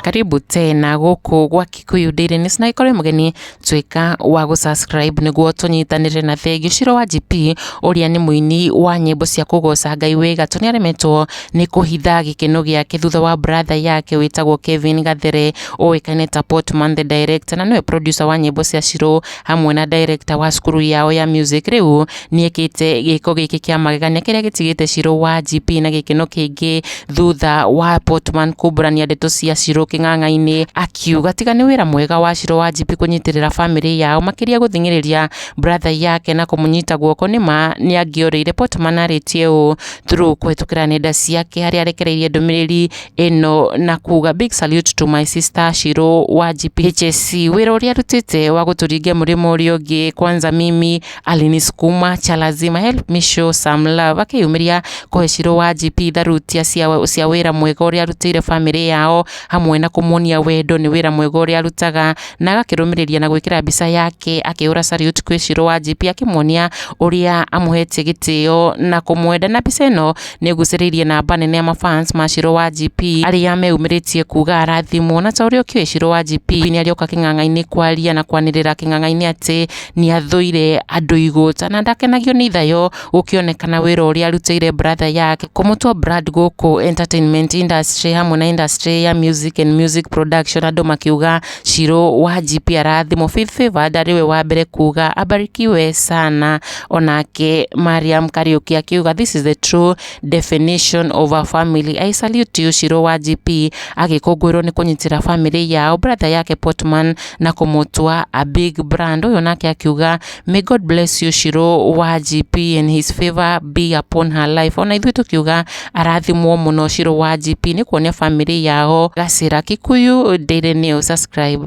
karibu tena guku gwa Kikuyu Daily News na ikore mugeni twika wa gu subscribe niguo tunyitanire na Thegi Shiro wa GP uria ni muini wa nyimbo cia kugoca Ngai wega tu niaremetwo ni kuhitha gikeno giake thutha wa brother yake witagwo Kevin Gathere uikaine ta Portman the director na niwe producer wa nyimbo cia Shiro hamwe na director wa cukuru yao ya music riu niekite giko giki kia magegania kiria gitigite Shiro wa GP na gikeno kiingi thutha wa Portman kumburania ndeto cia Shiro king'ang'a-ini akiuga tiga ni wira mwega wa Shiro wa GP kunyitirira family yao makiria guthing'iriria brother yake na kumunyita guoko ni ma ni angiorire Portman aritie uu through kuhitukira nenda ciake haria arekereirie ndumiriri ĩno na kuga big salute to my sister Shiro wa GPHC wĩra ũrĩa arutĩte wa gũtũringia mũrĩmo ũrĩa ũngĩ kwanza mimi alinisukuma cha lazima help me show some love akĩyumĩria kũhe Shiro wa GP tharutia cia, cia wĩra mwega ũrĩa arutĩire bamĩrĩ yao hamwe na kũmuonia wendo nĩ wĩra mwega ũrĩa arutaga na agakĩrũmĩrĩria na gwĩkĩra mbica yake akĩhũra salute kwĩ Shiro wa GP akĩmuonia ũrĩa amũhetie gĩtĩo na kũmwenda na mbica ĩno nĩgucĩrĩirie namba nene ya mafans ma Shiro wa GP arĩa meyumĩrĩtie kuga arathimwo na ta ũrĩa ũkĩũĩ Shiro wa GP nĩarĩoka kĩng'ang'a-inĩ kwaria na kwanĩrĩra kĩng'ang'a-inĩ atĩ nĩathũire andũ igũta na ndakenagio nĩ ithayo gũkĩonekana wĩra ũrĩa arutĩire brother yake kũmũtua brand gũkũ entertainment industry hamwe na industry ya music and music production andũ makiuga Shiro wa GP arathimo Faith Favour ndarĩ we wa mbere kuga abarikiwe sana onake Mariam Kariuki akiuga this is the true definition of a family I salute you Shiro wa GP agĩkũngũĩrwo nĩ kũnyitĩra family yao brother yake Portman na kũmũtua a big brand ũyũ nake akiuga May God bless you Shiro wa GP and his favor be upon her life. Ona ithuĩ tũkiuga arathimwo mũno Shiro wa GP nĩ kuonia family yao gacĩra. Kikuyu Daily News subscribe.